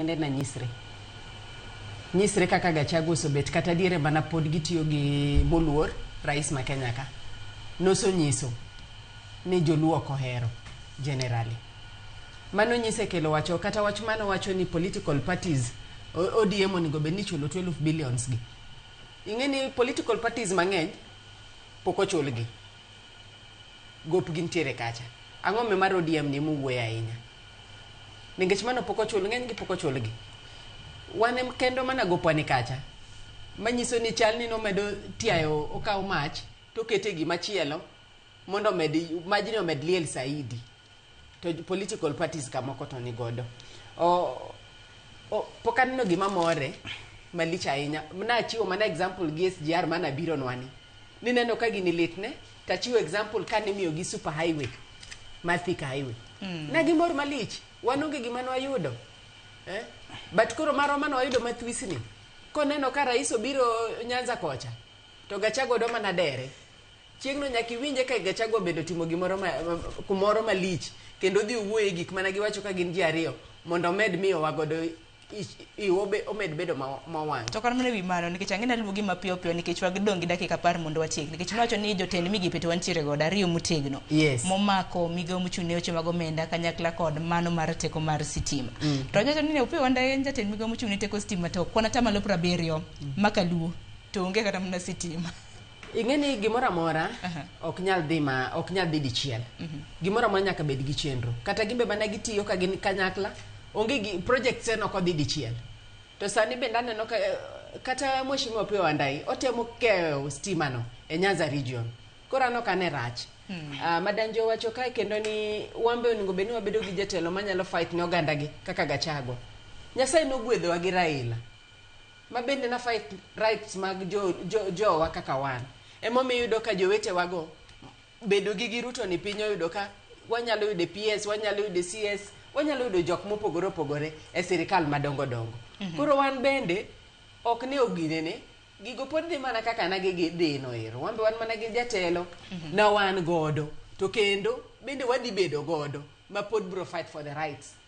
kende na nyisre nyisre kaka gachagu osobet kata diere mana pod gitiyo gi moluor rais ma kenya ka nosonyiso ni joluo ok ohero generali mano nyise kelo wacho kata wach mano wacho ni political parties o- odm onego bed ni chulo 12 billions gi ing'e ni political parties mang'eny pok ochulgi gopgi ntiere kacha ang'o me mar odm ni muwuoye ahinya ningech mano pok ochul ng'enygi pok ochulgi wan em- kendo mana gopwani kacha manyiso ni chal ni nomedo tiayo okawo mach tokete gima chielo mondo omed majni omed liel saidi to j- political parties kamoko to ni godo o, o, pok aneno gima more malich ahinya nachiwo mana example gi SGR mana bironwani nineno ka gini litne to achiwo example ka nimiyogi super highway ma Thika highway mm. ne gimor malich wan onge gima nwayudo eh? but koro marwa mane wayudo mathwisni koneno ka rais obiro nyanza kocha to gachago do mana dere chieng'no nyaka iwinje ka gachago obedo timo gimoro ma, kumoro malich kendo dhi owuoye gik mana giwacho ka gin ji ariyo mondo omed miyowa godo omed bedo mowang'. To kata mana ewi mano nikech ang'e naluongi mapiyo piyo nikech wagidong' gi dakika apar mondo watiek nikech nowacho ni jotend migepe to wantiere godo ariyo motegno yes. momako migawo mochung' ne weche mag omenda kanyakla kod mano mar teko mar sitima mm. to nyocha ni Opiyo Wandayi en jatend migawo mochung' ne teko sitima to kwan atamalo piero abiriyo mm. makaluo to onge kata mana sitima ing'e ni gimoro amora ok nyal dhi ma ok nyal dhi dichiel mhm. gimoro amora nyaka bed gi chenro kata gimbe mana gitiyo ka gin kanyakla onge gi project sen ok odhi dichiel to sani bende aneno ka eh, kata mheshimiwa Opiyo Wandayi otemo keyo stima no e Nyanza region koro anok ane rach Hmm. Uh, ah, madanjo owacho kae kendo ni wambe onego bed ni wabedo gi jatelo manyalo fight ne oganda gi kaka gachago nyasaye nogwedhowa gi raila ma bende na fight rights mag jo, jo, jowa kaka wan emomiyo iyudo ka jowetewago bedo gi giruto ni piny oyudo ka wanyalo yudo e ps wanyalo yudo e cs wanyalo yudo jok mopogore opogore e sirikal madongo dongo koro wan bende ok ne oginene gigo pod dhi mana kaka na gigi dhi noero wan be wan mana gi jatelo na wan godo to kendo bende wadhi bedo godo ma pod bro fight for the rights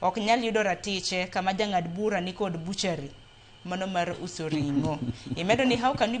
Ok nyal yudo ratiche kama jang'ad bura nikod butchery mano mar uso ring'o. Imedo ni how can you believe